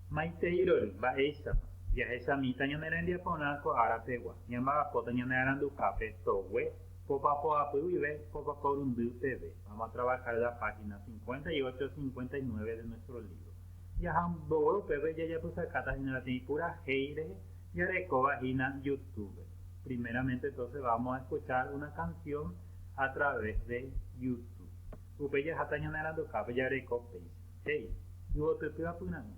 Maiteirory, mba'éichapa? Jahechamíta ñane rembiaporã ko ára pegua, ñamba'apóta ñane aranduhápe togue, popa poapy guive, popa porundy peve, vamos a trabajar la página 58, 59 de nuestro libro. Jaha mbogue upépe jajapysakáta hína peteĩ purahéi rehe jarekóva hína YouTube. Primeramente entonces vamos a escuchar una canción a través de YouTube. Upe jaháta ñane aranduhápe jareko péicha. He'i, Yvotyty apyrã'i.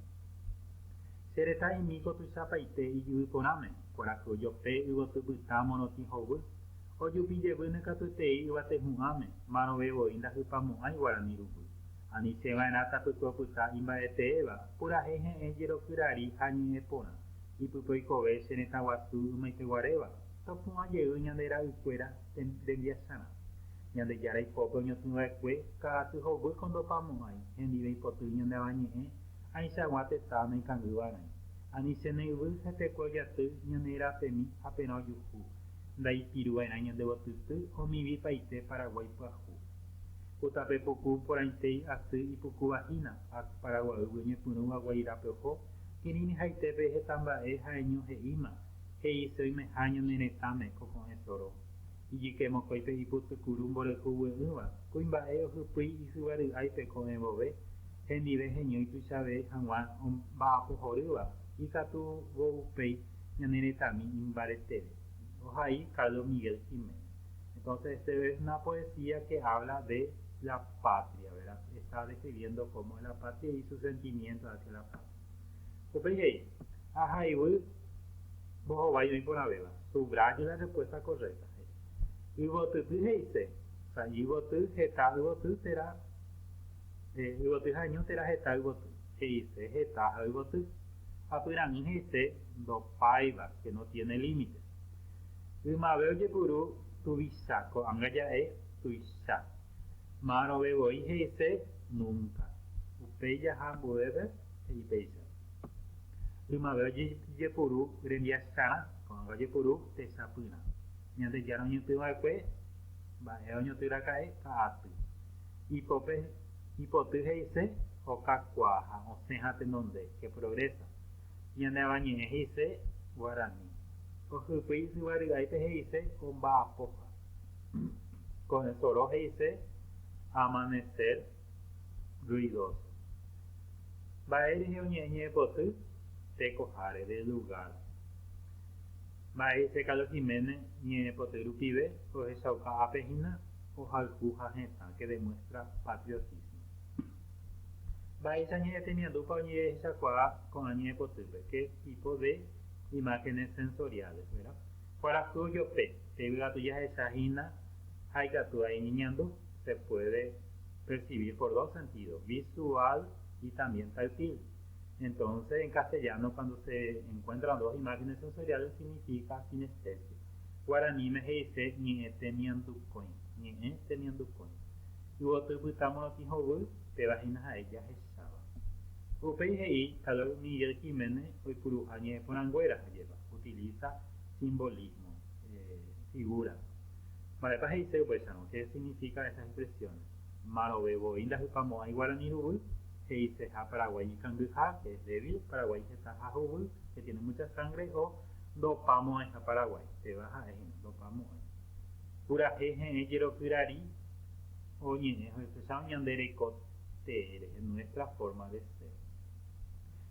Che retã imíko tuichapaite ijyvy porãme, kuarahy jope yvoty pytã morotĩ hovy, ojupi jevýne katuetei yvate hu'ãme, márõve voi ndahypamo'ãi guarani ruguy. Aniche va'erã tapyke opyta imba'eteéva, purahéi he'ẽ jerokyrari ha ñe'ẽ porã, ipype oikove che retã guasu ymaiteguaréva, topu'ã jey ñande ra'y kuéra, rembiasarã. Ñandejára ipópe oñotỹva'ekue ka'aty hovy ko ndopamo'ãi hendiveipotýi ñande Avañe'ẽ ãichagua tetã naikangývaraĩ. Ani che ne yvy ha tekue ojaty ñane rapemi ha perã ojuhu, ndaipiruva'erã ñande gotýty omivi paite Paraguái pyahu. Ku tape puku porãitéi asy ipukuvahína ha Paraguaýgui oñepyrũva Guairape oho, kirirĩhaitépe hetamba'e ha'eño he'íma He'ise oime áño ne retãme ko ko'ẽ soro, ijyke mokõipe ipytycuru mborayhu gue'ỹva, kuimba'e ohypýi isyva ry'áipe ko'ẽ vove, hendive heñói tuichave hag̃ua omba'apo horýva, ikatu vo upéi ñane retãmi imbareteve. Ohai Carlos Miguel Jiménez. Entonces este es una poesía que habla de la patria, ¿verdad? Está describiendo cómo es la patria y sus sentimientos hacia la patria. Upéi he'i, Ha hayvu mbohovái oĩ porãvéva, subraye la respuesta correcta, he'i. Yvotyty he'ise, o sea, yvoty, heta yvoty térã, eh, yvoty ha ñu térã heta yvoty, he'ise heta ha yvoty, ha pyraĩ he'ise ndopáiva, que no tiene límite. Ymave ojepuru tuvicha, ko'ág̃a ja'e tuicha. Ma'arõve voi he'ise, Núnka. Upéi jaha ambuépe, he'i péicha. Ymave ojejepuru rembiaskarã, ko'ãnga ojepuru techapyrã. Ñandejára oñotỹ va'ekue, mba'e oñotỹraka'e ka'aty. Ipópe ipoty he'ise, okakuaa ha osẽ ha tenonde, que progresa. Ñane Avañe'ẽ he'ise, Guarani. Ohypýi ysyvary'áipe he'ise, omba'apóha. Con esto ro he'ise amanecer ruidoso. Mba'e rehe oñe'ẽ ñe'ẽpoty tekoháre, del lugar. Mba'e he'ise Carlos Jiménez ñe'ẽpoty rupive ohechauka ápe hína ohayhu ha hetã que demuestra patriotismo. Mba'éicha ñe'ẽ temiandúpa oñe'ẽhechakuaa ko'ã ñe'ẽpotýpe, qué tipo de imágenes sensoriales, verá? Kuarahy ojope. Yvygatu jahecha hína ha ikatu ha iñeñandu, se puede percibir por dos sentidos, visual y también táctil. Entonces, en castellano cuando se encuentran dos imágenes sensoriales significa sinestesia. Guaraníme he'ise ñe'ẽ temiandukõi, ñe'ẽ temiandukõi. Yvoty pytã morotĩ hovy, péva hína ha'e jahecháva. Upéi he'i Caleb Miguel Jiménez oipuruha ñe'ẽporãnguéra ha jepa, utiliza simbolismo. figura. Mba'épa he'ise upéicharõ? Qué significa esas expresiones? Marove voi ndahypamo'ãi guarani ruguy, he'iseha Paraguái ikangyha, que es débil, Paraguái heta ha huguy, que tiene mucha sangre, o ndopamo'ãiha Paraguái, péva ha'e hína, ndopamo'ãi. Purahéi heẽ jerokyrari oñe'ẽ ohechaháva ñande reko tee rehe, nuestra forma de ser.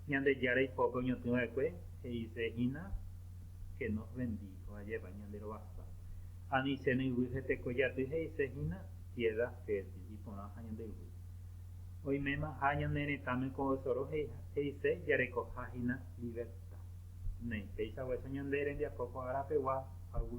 Ñandejára ipópe oñotỹva'ekue he'ise hína. che nos bendijo ajépa ñande rovasa. Ani chéne yvy he tekojaty he'ise hína piedra fértil iporãha ñande yvy. Oimémaha ñane retãme ko yesoro he'ise jarekoha hína libertad. Néi, péicha guacho ñande rembiapo ko ára pegua ha yvy.